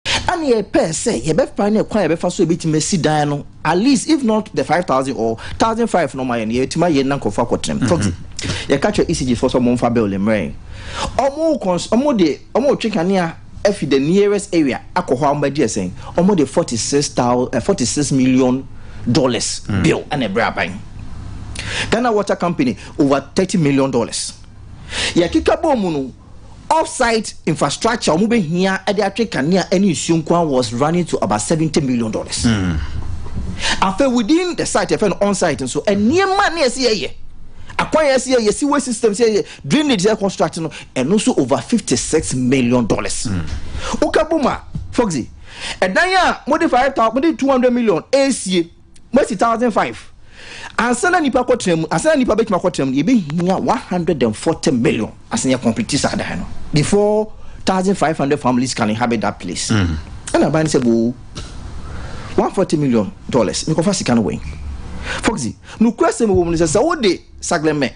Ɛnna yɛpɛɛ sɛ yɛbɛfa ne kwan a yɛbɛfa so a yɛbɛtumi asi dan no, at least if not the five thousand or thousand five na wɔayɛ no, yɛatumi ayɛ na nkurɔfoɔ akɔtenam. Tɔte, yɛka kyerɛ ECG foɔ sɛ wɔmfa building mmrɛ yɛn. Wɔn kɔns wɔn de wɔn retwe kanea afi the nearest area akɔ hɔ a wɔbɛgye ɛsɛn. Wɔn de forty six thousand eh, forty six million dollars bill ɛna ɛbrɛ aban. Ghana Water Company over thirty million dollars. Yɛkeka bɔɔ mu no. Off-site infrastructure a wɔbɛhia de atwe kanea ne nsuo nko ara was running to about seventy million dollars. Afei within the site yɛfɛ no on-site nso nneɛma ne ɛsɛ yɛyɛ akwan yɛsɛ yɛyɛ sewage system sɛ yɛyɛ drainage yɛ construct no ɛno nso over fifty six million dollars. Woka bom a Foxy ɛdan a mode five thousand mode two hundred million ɛresie Moasi thousand five ansa na nipa kɔ tena mu ansa na nipa bɛtumi akɔ tena mu yɛbɛ hia one hundred and forty million asɛ yɛ complete saa dan no before thousand five hundred families can inhabit that place mm. ɛna aban sɛ boo one forty million dollars mekɔfa sika no wɛn foxy nukura sɛ mewɔ mu no sɛ sɛ wode saglɛmɛ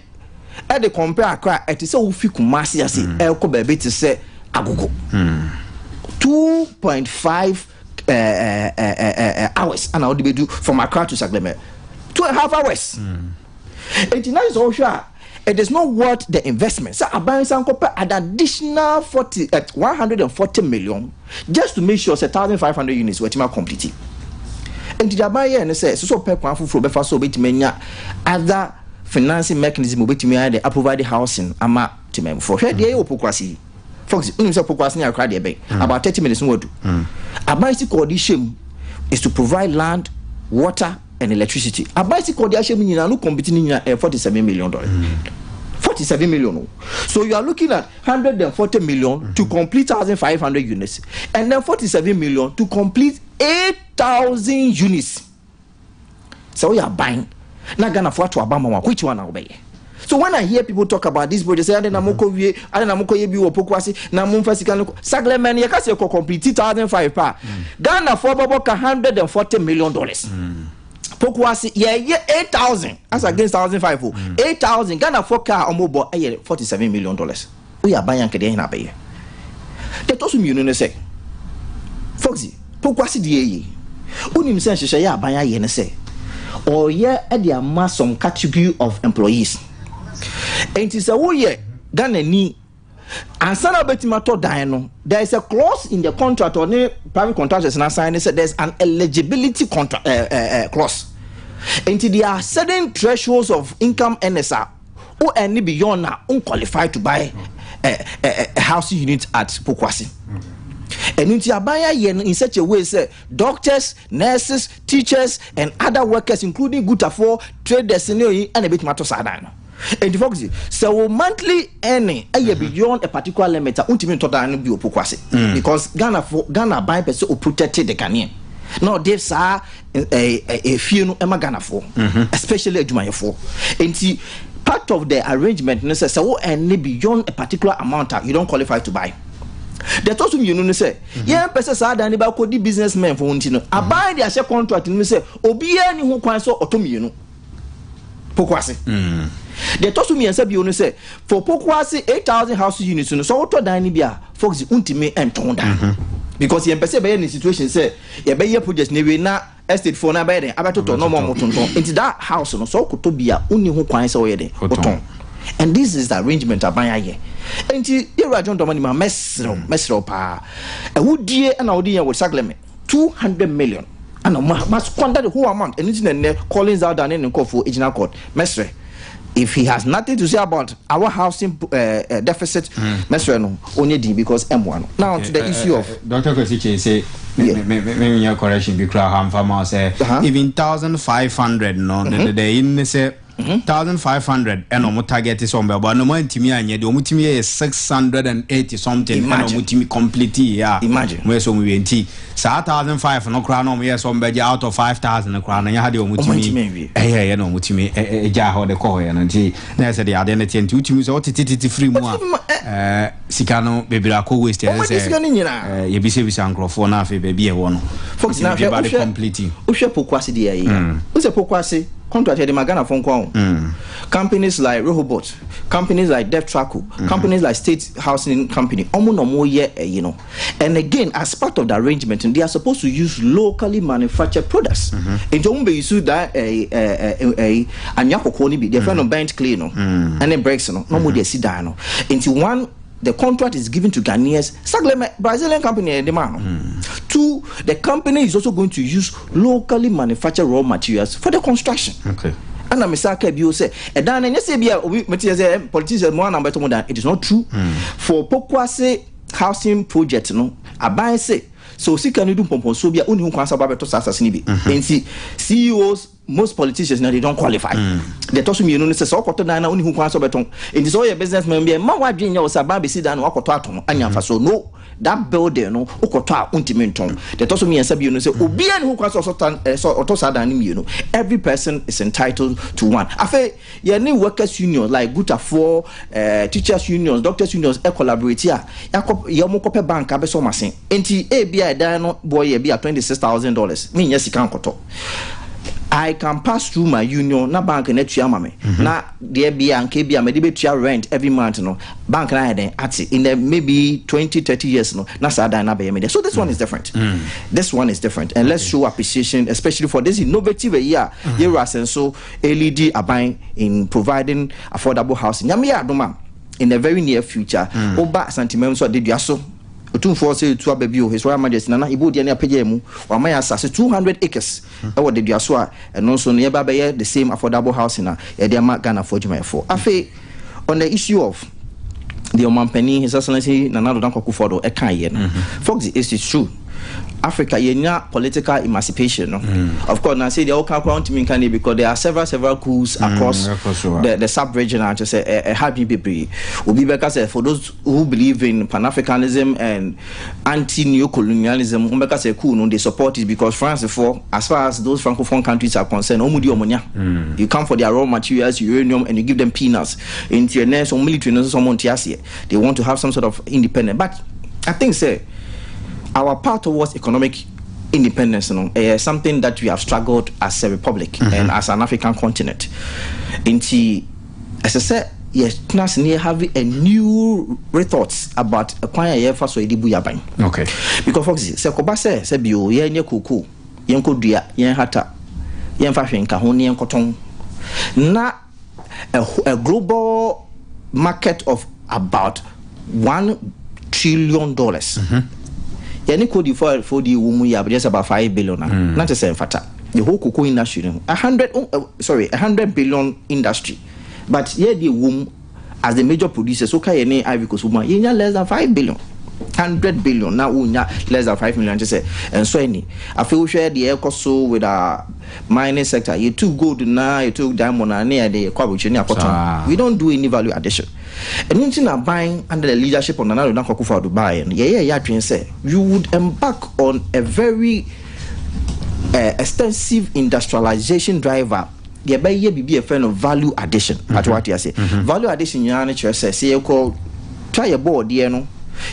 ɛde kɔmpɛ akra ɛte sɛ wofi kuma ase ase mm. ɛkɔ baabi te sɛ agogo mm. two point five eh, hours ana ɔde bɛdu from Accra to Sagleme two and a half hours nti na sɛ ɔhwɛ a it is not worth the investment sɛ aban san kɔpɛ an additional forty eh, one hundred and forty million just to make sure sɛ thousand five hundred units wɔatumi akɔmplete nti deɛ aban yɛɛ no sɛ ɛsɛ sɛ ɔpɛ kwan foforɔ bɛfa so ɔbɛtumi anya other financing mechanism ɔbɛtumi ayɛ de aprovide housing ama Temamufoɔ, hwɛ deɛ ɛyɛ wɔ Pokuase yi. Fox, wonim sɛ Pokuase ne Accra deɛ ɛbɛn? Mm. About 30 minutes na wadu. Mm. Aban si kɔɔ de hyɛ mu is to provide land, water and electricity. Aban si kɔɔ de ahyɛ mu nyinaa no compete ne nyinaa ɛyɛ 47 million dollars. Mm. 47 million. So you are looking at 140 million mm-hmm. to complete 1,500 units, and then 47 million to complete 8,000 units. Sɛ woyɛ aban na Ghanafoɔ ato aba ma wo a, which one na wobɛyɛ? So when I hear people talk about this project, say ade na mokɔ wie, ade na mokɔ yɛ bi wɔ Poku ase, na momfa sika no kɔ. Sagle man yɛka sɛ yɛkɔ complete 2005 pɛ a, Ghanafoɔ bɛbɔ ka 140 million dollars. Poku ase yɛyɛ 8000 as against 1005 o, 8000 Ghanafoɔ ka a wɔbɔ yɛ 47 million dollars. Woyɛ aban a nka deɛn na abɛyɛ? Deɛ ɛtɔ so mmienu ne sɛ, Foxy, poku ase deɛ eye. Wonim sɛ nhyehyɛeɛ a aban ayɛ ne sɛ ɔreyɛ de ama some category of employees. Enti sɛ woyɛ Ghanani, ansa na wobɛtumi atɔ dan no, there is a clause in the contract ɔne private contractors no asan ne sɛ there is an eligibility contra, uh, uh, uh, clause. Enti there are certain thresholds of income earners a Wo earn ne beyond a, wo qualify to buy a, a, a housing unit at Pokuase. Ɛno nti aban ayɛ no in such a way sɛ doctors, nurses, teachers and other workers including gutafoɔ, traders ne oyi ɛna ɛbɛtumi atɔ saa dan no. Enti focus sɛ wo monthly earning ɛyɛ mhm. beyond a particular limit a wontumi ntɔ dan no bi wɔ Pokuase mm. because Ghana for Ghana aban pɛ sɛ o protect the Ghanaian na ɔde saa efie no ma ghanafoɔ mhm. especially adwumayɛfoɔ nti part of the arrangement no sɛ sɛ wo ɛne beyond a particular amount a you don't qualify to buy deɛ ɛtɔ so mmienu no sɛ mhm. yɛmpɛ sɛ saa dan no bɛakɔdi business men fo ho nti no mhm. aban de ahyɛ contract no mu sɛ obiara ni ho kwan sɛ ɔtɔ mmienu Poko ase. Mm. Deɛ ɛtɔ so mmiɛnsa bio no sɛ for poko ase eight thousand house units no sɛ wotɔ dan no bi a fox ntumi ntɔn dan mhm. because yɛn pɛ sɛ yɛbɛyɛ ne situation sɛ yɛbɛyɛ project na ewie na estate foɔ na abɛyɛ den abɛtotɔ na ɔmo ɔmo tontɔn nti that house no sɛ ɔkotɔ bi a onni ho kwan sɛ ɔyɛ den ɔtɔn and this is the arrangement aban ayɛ nti yɛwura john dɔmɔ ni ma mɛsrɛw mɛsrɛw paa ɛwudie ɛna ɔde yɛn wɔ saglɛmɛ. Two hundred million ana ɔmo ma squander the whole amount ɛno nti na nnɛ Collins Alda ne ne nkorɔfoɔ gyina court mɛsrɛ if he has nothing to say about our housing uh, uh, deficit mm. mɛsrɛ no ɔnyɛ din because ɛmmoa no now to the eh, eh, issue eh, of. Dr. Kwesi Kyei sɛ menyɛ correction bi koraa hɔ amfa ma sɛ uh-huh. even thousand five hundred no mm-hmm. dɛdɛdɛ yi ne sɛ mhm. thousand five hundred ɛna wɔn target sɛ wɔn bɛ bɔ ɛna wɔn antumi anyɛ deɛ wɔn tumi yɛ six hundred and eighty something ɛna wɔn tumi complete yɛ a wɔn yɛ sɛ wɔn wie nti saa thousand five no koraa na wɔn yɛ sɛ wɔn bɛ gye out of five thousand no koraa na nyɛ ha deɛ wɔn tumi ɛyɛ ɛyɛ na wɔn tumi ɛgya hɔ de kɔ hɔ yɛ no nti na yɛ sɛ deɛ adeɛ no teɛ nti wotumi sɛ wɔtete tete firi mu a ɛɛ. Sika no bebree akɔ waste ɛsɛ sɛ sika no nyina yɛbisabisa nkurɔfoɔ na afei baabi a ɛwɔ no fɔsi biribi ba de complete. Wohwɛ pokuase deɛ ayɛ mm. wosɛ pokuase contract yɛde ma Ghanafoɔ nko ho mm. companies like Rehobot companies like Deftraco mm. companies like State Housing Company ɔmo na ɔmo yɛ ɛyi no and again as part of the arrangement they are supposed to use locally manufactured products mm-hmm. nti ɔmo bɛ use that ɛyi ɛyi ɛyi anwea kɔkɔɔ no bi deɛ fɛ no burnt clay no ɛne bricks no na wɔn de asi dan no nti one the contract is given to Ghanaians Saglema Brazilian company ɛde maa no two the company is also going to use locally manufactured raw materials for the construction. Okay. ɛna mesa aka bio sɛ ɛdan no ɛnyɛ sɛ bi a obi mete sɛ eh, politician mu ana bɛtɔ mu dan it is not true mm. for pokuase housing project no aban se sɛ osika no du mpɔmpɔnsoɔ bi a wonni ho kwan sɛ wobɛbɛto saa asase no bi mm-hmm. nti ceos Most politicians na they don't qualify. Mm. The tosu mienu ne sɛ ɔkɔtɔ dan na ɔni ho kwan sɛ ɔbɛtɔn. Nti sɛ ɔyɛ business man bi a ɛma wadwen nyɛ ɔsɛ aban bɛsi dan na wakɔtɔ ato no anya nfa so. No, that building no wokɔtɔ a wontumi ntɔn. The tosu mmiɛnsa bio no sɛ mm. obiara ne ho kwan sɛ ɔtɔ saa dan no mmienu. Every person is entitled to one. Afei yɛne workers union like gutafoɔ, uh, teachers unions, doctors unions collaborate a yɛakɔ yɛn kɔpɛ bank abɛsɔ ɔmo ase. Enti ebia ɛdan no boɔ yɛ ebia twenty six thousand dollars, me nnya sika nkɔtɔ. I can pass through my union na bank no atua ama me, na deɛ bia anka ebia mɛde bɛtua rent every month no, bank no ayɛ dɛn ate, in the maybe twenty, thirty years no, na saa dan no abɛyɛ me dea. So this one is different. This one is different and let's show appreciation especially for this innovative ayi a Yewura Asenso ɛlidi aban in providing affordable housing. Nyame yɛ adom a in the very near future, woba Asanteman nso a, Deduaso, Otumfoɔ ɔsɛ etu aba bio, His Royal Majesty Nana Ibu Odiani apagyaa mu, wama yɛn asase two hundred acres wɔ Daduaso a ɛno nso no yɛba abɛyɛ the same affordable housing a yɛde ama Ghanafoɔ adwumayɛfoɔ. Afei on the issue of deɛ Ɔmanpanin His Excellency Nana Addo Dankwa Akufo-Addo ɛkaeɛ no, folks it is true, Africa yɛnya political emancipation no, of course na sei deɛ woka koraa wontumi nka ne because there are several several coups across the the sub-region a kyerɛ sɛ ɛha adwene bebree, obi bɛka sɛ for those who believe in Pan-Africanism and anti neocolonialism, wɔn bɛka sɛ cool no, they support it because France foɔ as far as those francophone countries are concerned, wɔn di wɔn nya. You come for their raw materials, uranium and you give them peanuts. Nti ɛnɛ so military no nso sɛ wɔn nte aseɛ, they want to have some sort of independence but I think sɛ our path towards economic independence no ɛyɛ something that we have struggled as a republic and as an African continent. Nti. Ɛsɛ sɛ yɛtena ase na yɛ have a new rethoughts about kwan a yɛfa so yɛde bu yaban. Okay. Because for example, sɛ kɔba sɛ sɛ bio yɛnyɛ koko, yɛnkɔ dua, yɛnhata, yɛnfa hwee nka ho na yɛnkɔtɔn na a, a global market of about one trillion dollars. Mm -hmm. Yɛne Cote d'Ivoire fo di wo mu yɛ abɛyɛ sɛ about five billion a, mm. na kyerɛ sɛ mfata. the whole cocoa industry no a hundred oh, uh, sorry a hundred billion industry but yɛ deɛ wɔ mu as the major producers so ka yɛ ne Ivory Coast mu a yɛnya less than five billion hundred billion na wonya less than five million kyɛ sɛ ɛnsɔ ani afei wohwɛ deɛ ɛkɔ so with our mining sector yɛtu gold na yɛtu diamond na ne yɛde yɛkɔ aburokyire ne akɔtɔn we don't do any value addition ɛno nti na ban under the leadership of Nana Addo Dankwa Akufo-Addo baeɛ no yɛyɛ yɛ adwene sɛ we would embark on a very eh, extensive industrialization driver yɛbɛyɛ biribi a yɛfrɛ no value addition mhm. ate wate ase mhm. value addition nyinaa no kyerɛ sɛ sɛ yɛkɔ twa yɛ bɔɔdeɛ no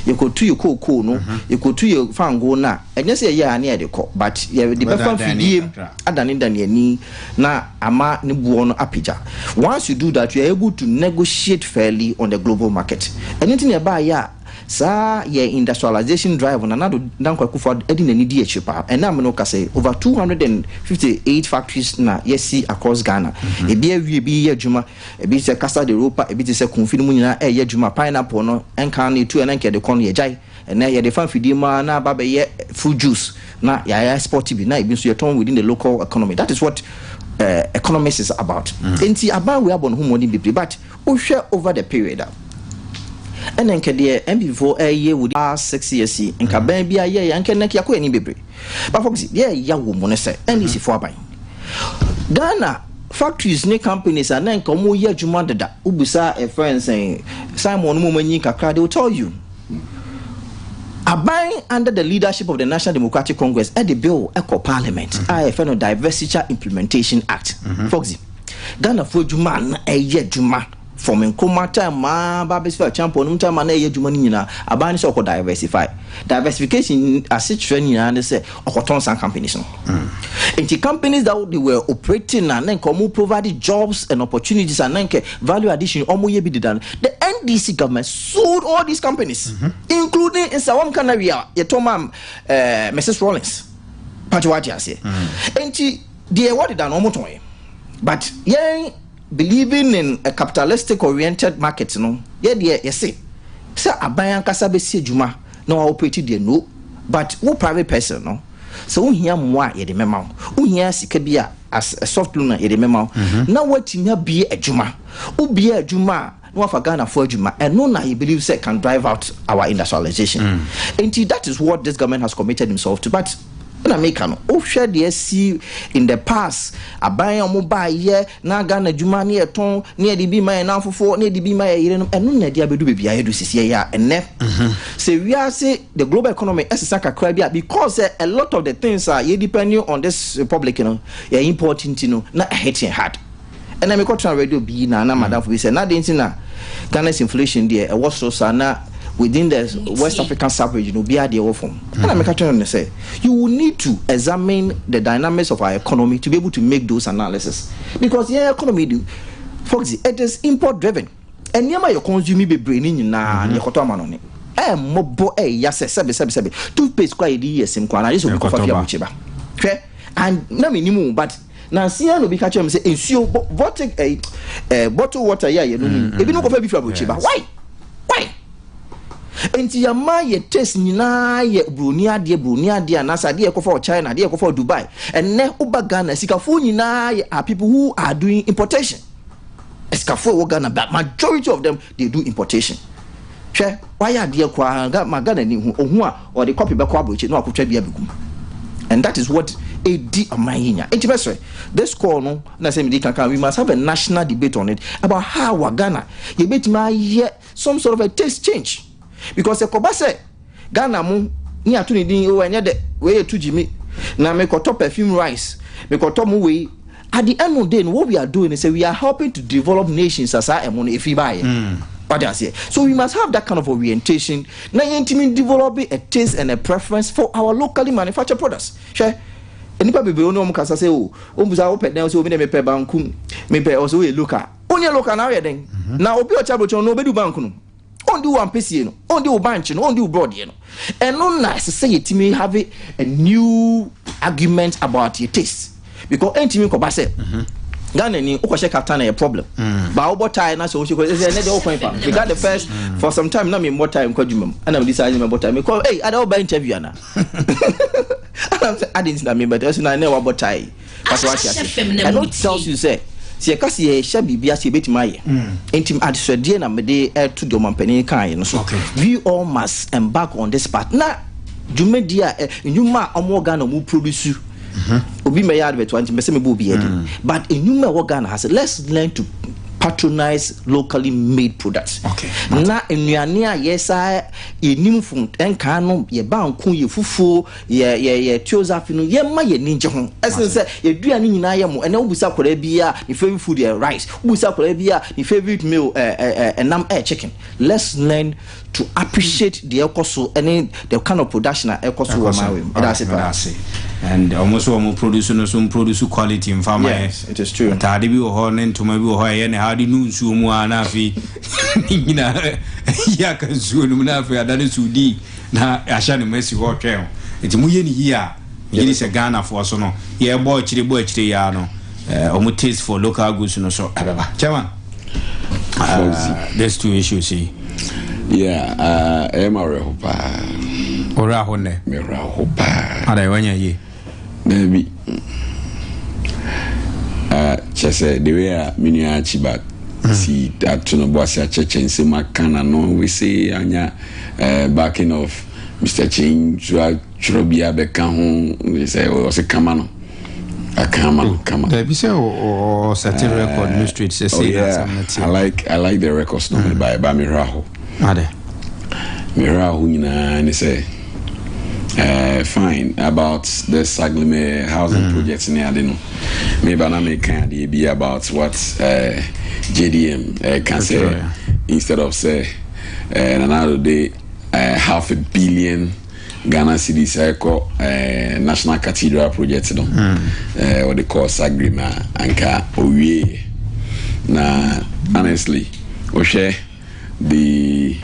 yɛkɔtu yɛ kookoo no mhm. yɛkɔtu yɛ fango no a ɛnyɛ sɛ yɛyɛ a ne yɛde kɔ but yɛde bɛfa mfidie adane dane ani na ama ne boɔ no apagya once you do that you are able to negotiate fairly on the global market ɛno nti ne ɛbaayɛ a Saa yɛ industrialization drive Nana Addo Dankwa Akufo-Addo de n'ani di akyire paa. Ɛnnɛ a me ne wo kasa yi, over two hundred and fifty eight factories na yɛasi across Ghana. Ebi awie, ebi reyɛ adwuma. Ebi te sɛ Casa de Ropa, ebi te sɛ Kumfi no mu nyinaa reyɛ adwuma. Pineapple no, ɛnkan no yɛtu a na anka yɛde kɔ no, yɛagyae. Ɛnnɛ yɛde fa mfidie mu ara na aba abɛyɛ fruit juice na yɛaexport bi na ebi nso yɛtɔn within the local economy. That is what economics is about. Enti aban wei abɔ ne ho mmɔden bebree but Wohwɛ over the period a ɛna nka deɛ NPP foɔ ɛyɛ wɔ ah six years yi nka mm. bɛn bi ayɛ yɛ nka nɛk yakɔ ɛni bebree but for example deɛ ɛya wɔ mu no sɛ mm-hmm. NDC foɔ aban Ghana factories ne companies a na nka wɔn yɛ adwuma deda wobisa ɛfrɛ nsɛn Simon no mu wɔn anyi kakra they will tell you aban under the leadership of the National Democratic Congress ɛde bill ɛkɔ parliament mm-hmm. a ɛfɛ no Divestiture Implementation Act mm-hmm. for example. Ghanafoɔ adwuma a na ɛyɛ adwuma from Nkrumah time ma ba bɛsi Acheampong nom time a na ɛyɛ adwuma no nyinaa, aban ne sɛ ɔkɔ diversify. Diversification asekyerɛ nyinaa ne sɛ ɔkɔtɔn saa companies no. Nti companies that they were operating a na nka wɔn provide jobs and opportunities a na nka value addition wɔn yɛ bi deda no, the NDC government sold all these companies including nsa wɔn ka na wia yɛtɔ ma eh, Mrs Rawlings. Pakyɛ wate aseɛ. Nti Deɛ ɛwɔ deda no wɔn tɔn yɛ but yɛn believing in a capitalistic oriented market no yɛ deɛ yɛse sɛ aban ankasa bɛsi adwuma na wa operate deɛ no but wo private person no sɛ wo hia mmoa a yɛde mɛma wo wo hia sika bi a as a soft loan a yɛde mɛma wo na watumi abie adwuma wo bie adwuma a na wafa Ghana fo adwuma ɛno na he believe sɛ can drive out our industrialization nti that is what this government has committed himself to but na meka no wohwɛ deɛ asi in the past aban a wɔn baa yɛ na Ghana adwuma ne yɛtɔn ne yɛde bi ma yɛn nanfofoɔ ne yɛde bi ma yɛ yerenom ɛno na ɛde abɛdu baabi a yɛdu sisi ɛyɛ a ɛnɛ sɛ wiase the global economy ɛsesa kakra bi a because sɛ a lot of the things a yɛ depending on this republic no yɛ import nti no na ɛhit yɛn hard. Ɛnna mekɔtenaa radio bi na na madamfo bi sɛ, na adɛn nti na Ghana's inflation deɛ ɛwɔ soro saa na within the West African sub-region no obiara deɛ ɛwɔ fam? Ɛnna meka kyerɛɛ no sɛ, you will need to examine the dynamics of our economy to be able to make those analysis because yɛn economy de, Foxy, it is import driven. Nneɛma a yɛ consume bebree no nyinaa no yɛkɔtɔ amanɔne. Ɛmmɔbɔ ɛya sɛ sɛbe sɛbe sɛbe toothpaste koraa a yɛde yi yɛ sim koraa no agye sɛ obi kɔfa fi aburokyire ba. Hwɛ, and na mennim wo but Nansa yi ara na obi ka kyerɛɛ me sɛ nsuo bɔ bɔte ɛyi eh, ɛɛ eh, bottle water yi a yɛnom yi, mm-hmm. ebinom kɔfa bi firi aburokyire ba. Why? Why? Nti yɛma yɛ taste nyinaa yɛ buroni adeɛ buroni adeɛ anaasɛ adeɛ yɛkɔfa wɔ China adeɛ yɛkɔfa wɔ Dubai. Ɛnɛ woba Ghana sikafoɔ nyinaa yɛ are people who are doing importation. Sikafoɔ ɛwɔ Ghana but majority of them they do importation. Hwɛ, wayɛ adeɛ koraa ga ma Ghana ni hu ohu a ɔde kɔpe bɛkɔ aburokyire na wakɔtwa bi abɛgu mu and that is what ɛdi ɔman yi nya nti mɛsrɛ this call no na sɛ medi kankan we must have a national debate on it about how a Ghana yɛbɛtumi ayɛ some sort of a taste change because ɛkɔba sɛ Ghana mo ne ato ne din oh ɛnyɛ dɛ wei yɛ to gyimi na me kɔtɔ perfume rice me kɔtɔ mo wei at the end of day no what we are doing sɛ we are helping to develop nations a saa ɛmo no ɛfiri baayɛ mm. wade aseɛ so we must have that kind of orientation na yɛntumi develop a taste and a preference for our locally manufactured products hwɛ nipa bebree wɔn wɔn kasa sɛ o wɔn bisa wɔpɛ dɛn sɛ obi na mepɛ banku mepɛ ɔsɛ oyɛ local wɔn yɛ local na ɔyɛ dɛn na obi ɔkyɛ aburokyi no na obedu banku no. Ɔndi wo ampesie no, ɔndi wo bankye no, ɔndi wo brɔdeɛ no. Ɛno na ɛsɛ sɛ yɛtumi have a new argument about your taste because ɛntumi nkɔba sɛ mhm. Ghana ni wokɔhyɛ kaftan na yɛ problem mm. ba wobɔ tae na sɛ wohyɛ kɔ sɛ ɛnɛ deɛ wokwan fa me got the first mm. for some time na memmɔ tae nkɔ adwuma mu ana mede saa ne mɛbɔ tae mekɔ ei ada woba interview ana ana sɛ ade nti na mebɛtɛ so na ɛnɛ wabɔ tae Fa sɛ woate ase. Ɛno tells you sɛ, sɛ yɛka sɛ yɛrehyɛ biribi ase a, yɛbɛtumi ayɛ. Enti adesrɛdeɛ na mede reto deɛ ɔmampanin kaeɛ no so. We all must embark on this path. Na dwumadie a, ɛ, nnwuma a wɔwɔ Ghana a wɔproduce, obi mmɛyɛ advert wa, nti mpɛ sɛ mebɔ obiara din. But nnwuma a ɛwɔ Ghana ha sɛ, let's learn to patronise locally made products. Na nnuane a yɛsaa, yɛnnim fun, nkaa no, yɛbanku, yɛ fufuo, Yɛ yɛ yɛ Teosophy no yɛ ma yɛ ni gye ho ɛsen sɛ yɛ dua no nyinaa yɛ mo ɛnɛ wo bisa akwadaa bi a ne favorite food yɛ rice wo bisa akwadaa bi a ne favorite meal ɛ ɛ ɛ ɛnam ɛyɛ chicken let's learn to appreciate deɛ ɛkɔ so ɛne the kind of production a ɛkɔ so wɔ maa wɛ mu ɛda ase paa and wɔn nso wɔn produce no nso produce quality nfa ma yɛ ataade bi wɔ hɔ ne ntoma bi wɔ hɔ ɛyɛ ne ha de nu nsuo mu a na afei ne nyinaa yɛ aka nsuo no mu na afei ada ne so di. Na yɛahyɛ no ma asi hɔ retwɛn o. Nti moyɛ no yie a, megye di sɛ Ghanafoɔ so no, yɛbɔ akyire bɔ akyire yi ara no, wɔn taste for local goods no so ɛbɛba. Chairman, uh, these two issues yi. Yeah, uh, ɛyɛ ma awerɛho paa. Ɔwerɛ aho nnɛ. Mɛwerɛ aho paa. Ada, ɛwɔ nyɛ yie. Daabi. Ah, kyerɛ sɛ, the way a me nua Archibald si ato no bo ase akyerɛkyerɛ nsɛm aka na no wese anya eh, backing of Mister Kyein nso atwerɛ bi abɛka ho sɛ ɔse kama no aka ama no kama. Daabi sɛ ɔsɛte record no straight sɛ sei na asɛm no teɛ. I like, I like the records no mebae ba mehwɛ aho. Ade. Me werɛ ahow nyinaa ne sɛ eh, fine about the Saglime housing mm. project ne ade no me ba na me kan adeɛ bi about what eh, JDM eh, ka sɛ instead of sɛ eh, nanado de eh, half a billion Ghana cities ɛkɔ eh, national cathedral project no mm. eh, wɔde kɔɔ Saglime a anka owie na honestly wohwɛ de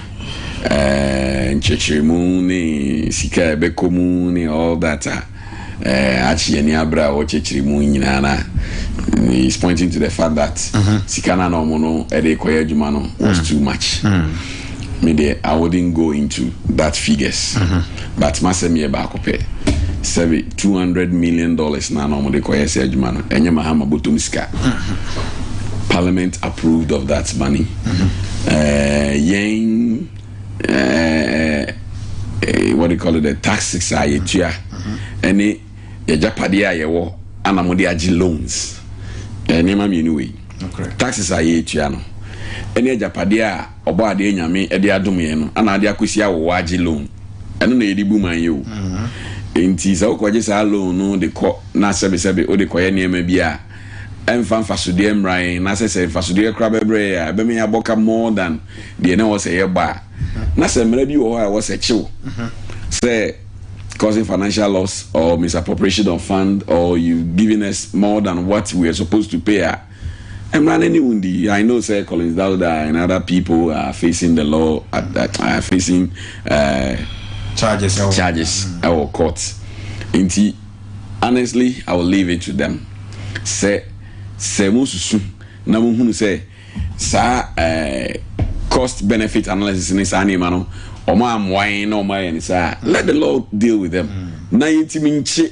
eh, nkyekyeremu ne sika a ɛbɛkɔ mu ne all that a eh, akye yɛn ani abere a wɔkyekyere mu nyinaa na he is pointing to the fact that mm-hmm. sika na na wɔn no ɛde kɔyɛ adwuma no was mm. too much. Mm. Me deɛ I wouldn't go into that figures. Mm-hmm. But m'asɛm yɛ baako pɛ, sɛbe two hundred million dollars no a na wɔde kɔyɛ saa adwuma no, ɛnyɛ Mahama bɔtɔm sika. Parliament approved of that money. Ɛɛ yɛn ɛɛ what do you call it the taxes a yɛtua ɛne yɛgyapadeɛ a yɛwɔ ana wɔde agye loans. Ɛɛ nneɛma mmienu wei. Taxes a yɛtua no ɛne agyapadeɛ a. Ɔbɔadeɛ Nyame de adom yɛn no ana ade akɔsi awowa agye loan? Ɛno na yɛde bu man yi o. Enti sɛ wokɔgye saa loan no de kɔ na sɛbesɛbe wode kɔyɛ nneɛma bi a ɛmfa mfasodeɛ mmra yɛn na sɛ sɛ mfasodeɛ koraa bɛbrɛ yɛn a ɛbɛma yɛabɔ ka more than deɛ na ɛwɔ sɛ yɛbɔ a na sɛ mmara bi wɔ hɔ a ɛwɔ sɛ kyew sɛ causing financial loss or misappropriation of fund or you giving us more than what we are supposed to pay a Mmra na ne wo ndi. I know sɛ Collins Dauda and other people are facing the law at that are facing charges ɛwɔ charges ɛwɔ court nti honestly I will leave it to them sɛ sɛ mo susu na mo hunu sɛ saa cost benefit analysis ne saa nneɛma no wɔn amoa yɛn na wɔn ayɛ ne saa let the law deal with them na yɛntumi nkye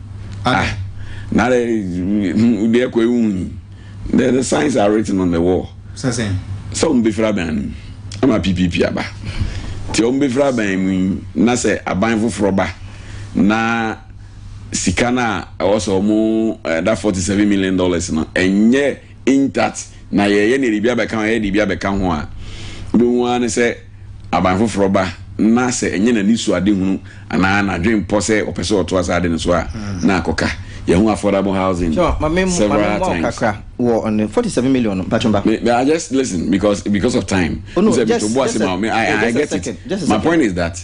Ah, na dɛ hmm, wode ɛkɔ ewu yi. The, the signs are written on the wall. Sɛ sɛn? Sɛ wɔn bɛfiri aban no mu ama PPP aba. Nti wɔn bɛfiri aban mu yi na sɛ aban foforɔ ba na sika no a ɛwɔ sɛ wɔn eh, da forty seven million dollars no ɛnyɛ in that na yɛyɛ nea biribi abɛka ho a yɛyɛ nea biribi abɛka ho a, wobɛhu ara ne sɛ aban foforɔ ba na sɛ ɛnyɛ n'anisoadehunu anaa n'adwenpɔ sɛ ɔpɛ sɛ ɔtoa saa ade no so a, na akɔka. Yɛahu affordable housing Sure, ma me mmu- ma me several mmoa wo times. kakra wɔ ɔno 47 million no mpatwom ba. Me, me, I just listen because because of time. Oh, no, Sɛ just- metobo ase just a- ma wo, me- I, yeah, I just a get it. second, just a My second. point is that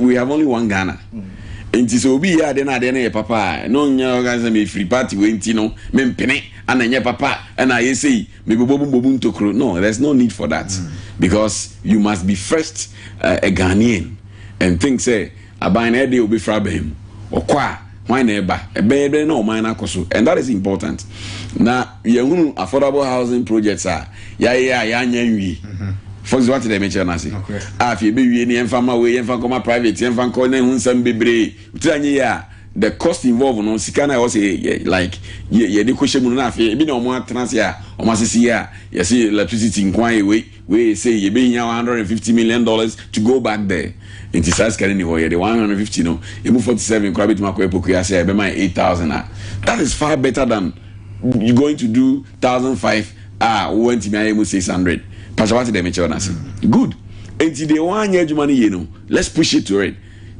we have only one ghana nti sɛ obi yɛ adeɛ na adeɛ no yɛ papa a na ɔnyɛ ɔka sɛ mefiri party wei nti no mempene ana ɛnyɛ papa ɛna ayɛ sei mebobɔbu bobu ntokuro no there's no need for that mm. because you must be first uh, a ghanaian and think sɛ aban na ɛdeɛ wobɛfiri abɛn mu ɔkɔ a Hwan na ɛba? Ɛbɛyɛ dɛn na ɔman no akɔ so? And that is important. Na yɛhunu affordable housing projects a yɛayɛ a yɛanya nwie. For instance, wate dɛ mekyerɛ no ase? Nokorɛ. A afei yɛbɛwie no, yɛmfa mma wei, yɛmfa nkɔma private, yɛmfa nkɔ, na ɛho nsɛm bebree. Wotiri anyɛ yie a, the cost involved no, sika no a ɛwɔ sɛ yɛ, yɛ, like, yɛ, yɛde kɔhyɛ mu no, na afei ebi na wɔatena ase a wɔasese yɛ a, yɛse electricity nko ara yɛ wei. Wei sei yɛbɛhia one hundred and fifty million dollars to go back there nti saa sika no ni hɔ yɛde one hundred and fifty no emu forty seven koraa bɛtumi akɔyɛ pokuya sɛ ɛbɛma yɛ eight thousand a that is far better than you going to do thousand five a wɔntumi ayɛ mu six hundred pastor wate deɛ mekyerɛ no ase good nti deɛ wɔn anyɛ adwuma no yie no let's push it to it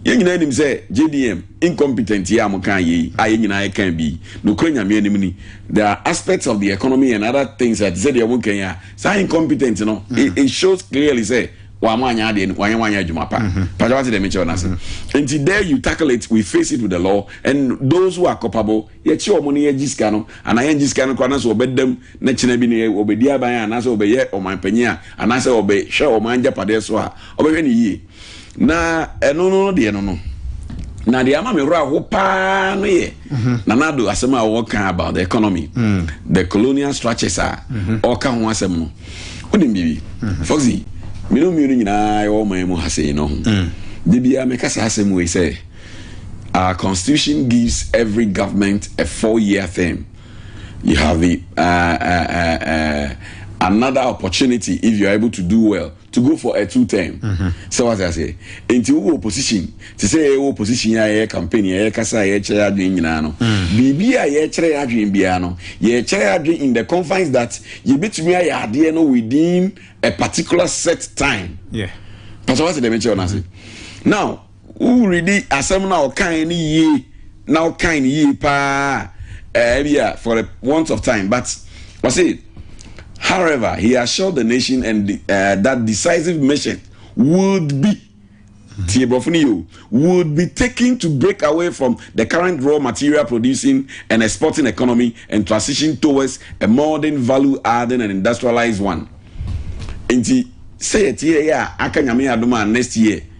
yɛn nyinaa nim sɛ jdm incompetent yi a mo kan yei a yɛn nyinaa yɛkan bi nokora nyame anim ni there are aspects of the economy and other things a te sɛ deɛ wɔn kan yi a saa incompetent no mm. it, it shows clearly sɛ wɔn anyɛ adeɛ no wɔn anyɛ adwuma pa pàṣẹ wàá ti dɛm nkyɛn n'ase nti there you tackle it we face it with the law and those who are culpable yɛ kye wɔn ne yɛ gyi sika no anaa yɛ gyi sika no koraa n'asɛ ɔbɛ dɛm ne kyinɛ bi ne ɔbɛ di aban anaasɛ ɔbɛ yɛ ɔman panyin a anaasɛ ɔbɛ hwɛ ɔman agyapadeɛ so a ɔbɛ hwɛ ne yie. Na ɛno no no deɛ no no na deɛ ama me werɛ aho paa no yɛ mhm. nanado asɛm a wɔka about the economy mm. the colonial structures a mhm. ɔka ho asɛm no wonim biribi mhm. foxy mene mmienu nyinaa ɛwɔ ɔman mu ha sei no ho mm. da biara meka saa asɛm wei sɛ our constitution gives every government a four year term you have the uh, uh, uh, uh, another opportunity if you are able to do well to go for a two term sɛ wate aseɛ nti wowɔ opposition te sɛ yɛwɔ opposition a yɛyɛ campaign a yɛkasa a yɛkyerɛ yɛ adwene nyinaa no biribi a yɛkyerɛ yɛ adwene biara no yɛkyerɛ yɛ adwene in the confines that yɛbɛtumi ayɛ adeɛ no within a particular set time yeah. pasɛ wate deɛ mekyerɛ no ase now Wo readi asɛm no a ɔkaeɛ no yie na ɔkae no yie paa a, ebi a for the want of time but ɔse however he assured the nation and uh, that decisive mission would be tie borɔfo no yie o would be taken to break away from the current raw material producing and exporting economy and transition towards a modern value adding and industrialized one nti sɛ yɛte yɛ a aka nyame adom a next year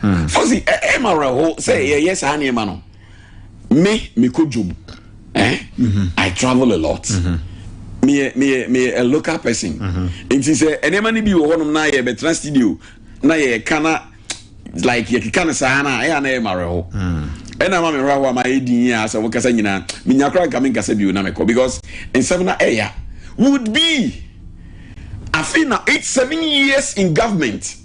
Hmm. fɔsi ɛ ɛ ma wura hɔ sɛ yɛ yɛ saa nneɛma no me me ko dwom ɛ eh? mhm. i travel a lot mhm. meyɛ meyɛ meyɛ a local person mhm. nti sɛ nneɛma no bi wɔ hɔnom na yɛ bɛtena studio na yɛ ka na like yɛ keka no saa na ɛyɛ na yɛ ma wura hɔ hmm. ɛna ma me wura hɔ a ma yɛ di yie a sɛ wɔkasa nyinaa menya koraa nka me nkasa bio na mekɔ because nsɛm na ɛya would be afei na eight seven years in government.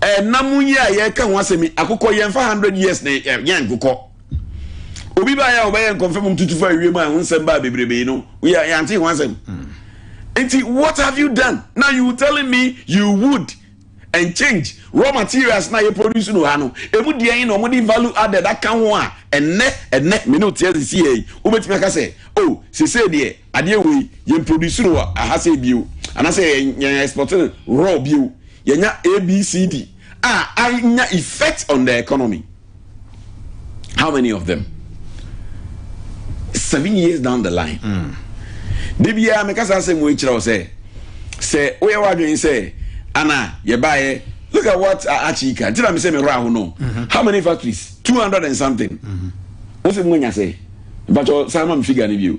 Ɛnna mu yi a yɛreka ho asɛm yi, akokɔ yɛmfa hundred years na yɛnyɛ nkokɔ. Obi baa yɛ a ɔbɛyɛ nkɔmfam mu tutu fa wiem a ɛho nsɛm baa bebrebe no, woyɛ yɛante ho asɛm. Nti what have you done? Now you telling me you would and change raw materials na yɛ produce no ha no, emu deɛ yi na wɔde value added aka ho a, ɛnnɛ, ɛnnɛ, me ne wote asisi yɛ yi, wobɛtumi aka sɛ, oh, sesei deɛ, Adeɛ wei yɛn produce no wɔ aha sei bio anaasɛ yɛn export no raw bio, yɛnya ABCD a anya effect on the economy. How many of them? Seven years down the line. Mm. Da biara meka saa asɛm wei kyerɛ wo sɛ sɛ woyɛ w'adwene sɛ ana yɛbaeɛ look at what Achika nti na me sɛ me werɛ aho no mm-hmm. how many factories 200 and something mm-hmm. wo sɛ mu anya sɛ mpakyɛ saa ma me figure no bio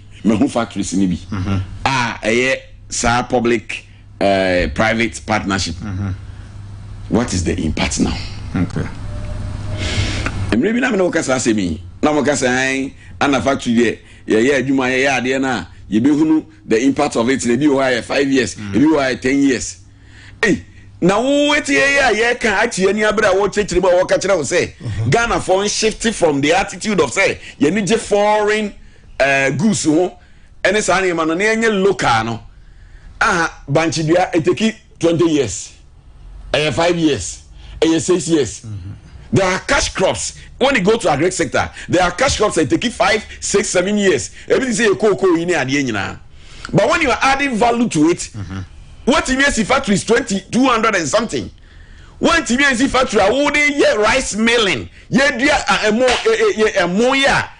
Mahu factories no bi a ɛyɛ saa public uh, private partnership. Mm -hmm. What is the impact now? Okay. Mmerɛ bi na mene wokasa asɛm yi na mokasa an ana factory deɛ yɛyɛ adwuma yɛyɛ adeɛ no a yɛbɛhunu the impact of it na ebi wɔ hɔ ayɛ five years mm. ebi wɔ hɔ ayɛ ten years ei na wotie yɛ a yɛka akyi ani abere a wɔkyerɛkyerɛ mu a wɔka kyerɛ wo sɛ mhm. ghanafoɔ n shift from the attitude of sɛ yɛne gye foreign eh, goose ho ɛne saa nneɛma no na ɛnyɛ local no aha bankye dua eteki twenty years ɛyɛ five years ɛyɛ six years there are cash crops when you go to agric sector there are cash crops that take five six seven years ebi ti sɛ yɛ kookoo yi ne adeɛ nyinaa but when you are adding value to it wɔtumi asi factories twenty two hundred and something wɔntumi asi factory a wɔde yɛ rice milling yɛ dua ɛmo ɛmo yɛ a.